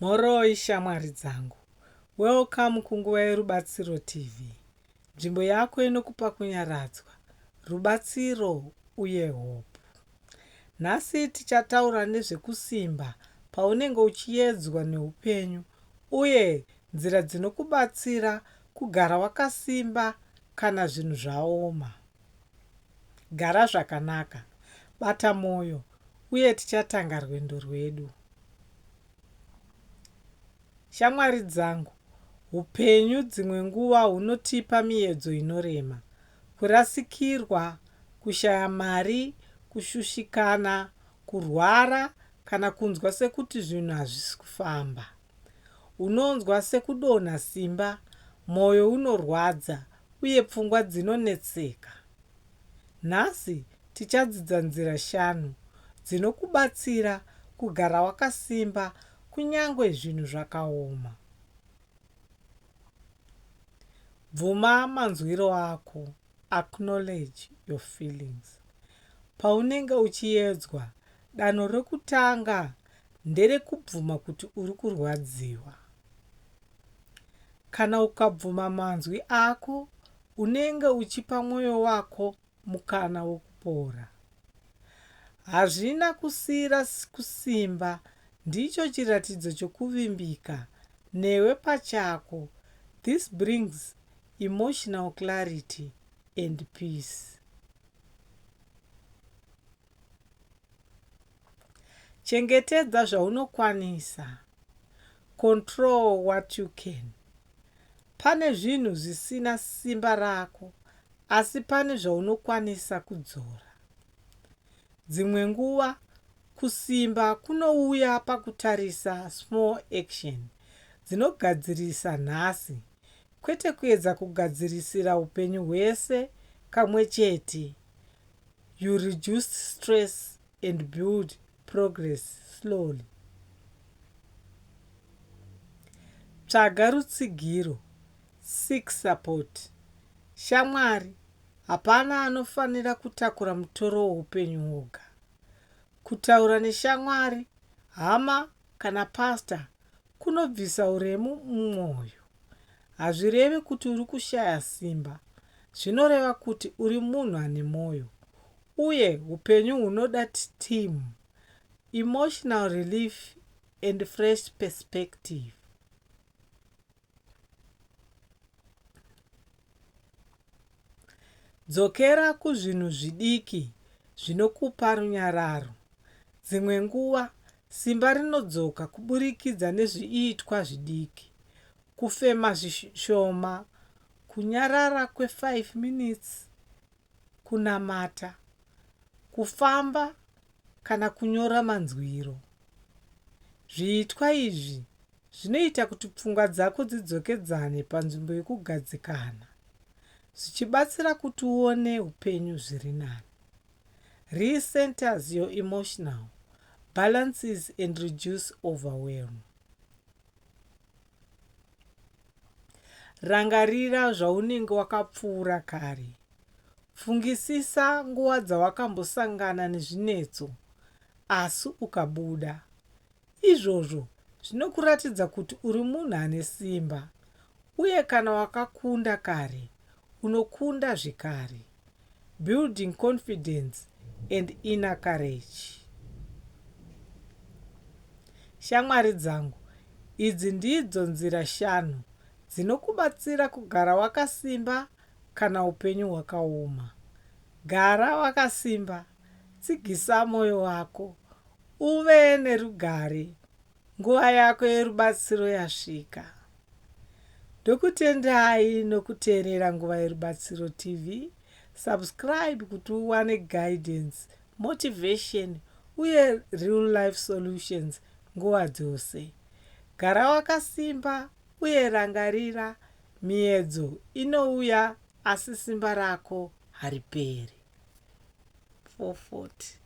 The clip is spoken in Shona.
Mhoroi shamwari dzangu. Welcome kunguva yeRubatsiro TV. Nzvimbo yako inokupa kunyaradzwa, rubatsiro uye hope. Nhasi tichataura nezvekusimba paunenge uchiyedzwa neupenyu uye nzira dzinokubatsira kugara wakasimba kana zvinhu zvaoma. Gara zvakanaka, bata mwoyo, uye tichatanga rwendo rwedu. Shamwari dzangu, upenyu dzimwe nguva hunotipa miedzo inorema. Kurasikirwa, kushaya mari, kushushikana, kurwara, kana kunzwa sekuti zvinhu hazvisi kufamba. Unonzwa sekudonha simba, mwoyo unorwadza, uye pfungwa dzinonetseka? Nhasi tichadzidza nzira shanu dzinokubatsira kugara wakasimba kunyange zvinhu zvakaoma. Bvuma manzwiro ako, Acknowledge your feelings. Paunenge uchiedzwa, danho rekutanga nderekubvuma kuti uri kurwadziwa. Kana ukabvuma manzwi ako, unenge uchipa mwoyo wako mukana wokupora. Hazvina kusiira kusimba, ndicho chiratidzo chokuvimbika newe pachako. This brings emotional clarity and peace. Chengetedza zvaunokwanisa, control what you can. Pane zvinhu zvisina simba rako asi pane zvaunokwanisa kudzora. Dzimwe nguva kusimba kunouya pakutarisa small action dzinogadzirisa nhasi kwete kuedza kugadzirisira upenyu hwese kamwe chete. you reduce stress and build progress slowly. Tsvaga rutsigiro, seek support. Shamwari, hapana anofanira kutakura mutoro weupenyu woga. Kutaura neshamwari, hama kana pastor Kunobvisa uremu mumwoyo hazvirevi kuti uri kushaya simba. Zvinoreva kuti uri munhu ane mwoyo uye upenyu hunoda timu, emotional relief and fresh perspective. Dzokera kuzvinhu zvidiki zvinokupa runyararo. Dzimwe nguva, simba rinodzoka kuburikidza nezviitwa zvidiki. Kufema zvishoma, kunyarara kwe 5 minutes, kunamata, kufamba kana kunyora manzwiro. Zviitwa izvi zvinoita kuti pfungwa dzako dzidzokedzane panzvimbo yokugadzikana, zvichibatsira kuti uone upenyu zviri nani. Recenters your emotional balances and reduce overwhelm. Rangarira zvaunenge wakapfuura kare. Fungisisa nguva dzawakambosangana nezvinetso asi ukabuda. Izvozvo zvinokuratidza kuti uri munhu ane simba uye kana wakakunda kare, unokunda zvekare. building confidence and inner courage. Shamwari dzangu, idzi ndidzo nzira shanu dzinokubatsira kugara wakasimba kana upenyu hwakaoma. Gara wakasimba, tsigisa moyo wako, uve nerugare Nguva yako yerubatsiro yasvika. Ndokutendai nokuteerera Nguva Yerubatsiro TV. Subscribe kuti uwane guidance, motivation uye real life solutions nguva dzose. Gara wakasimba uye rangarira, miedzo inouya asi simba rako hariperi. 440.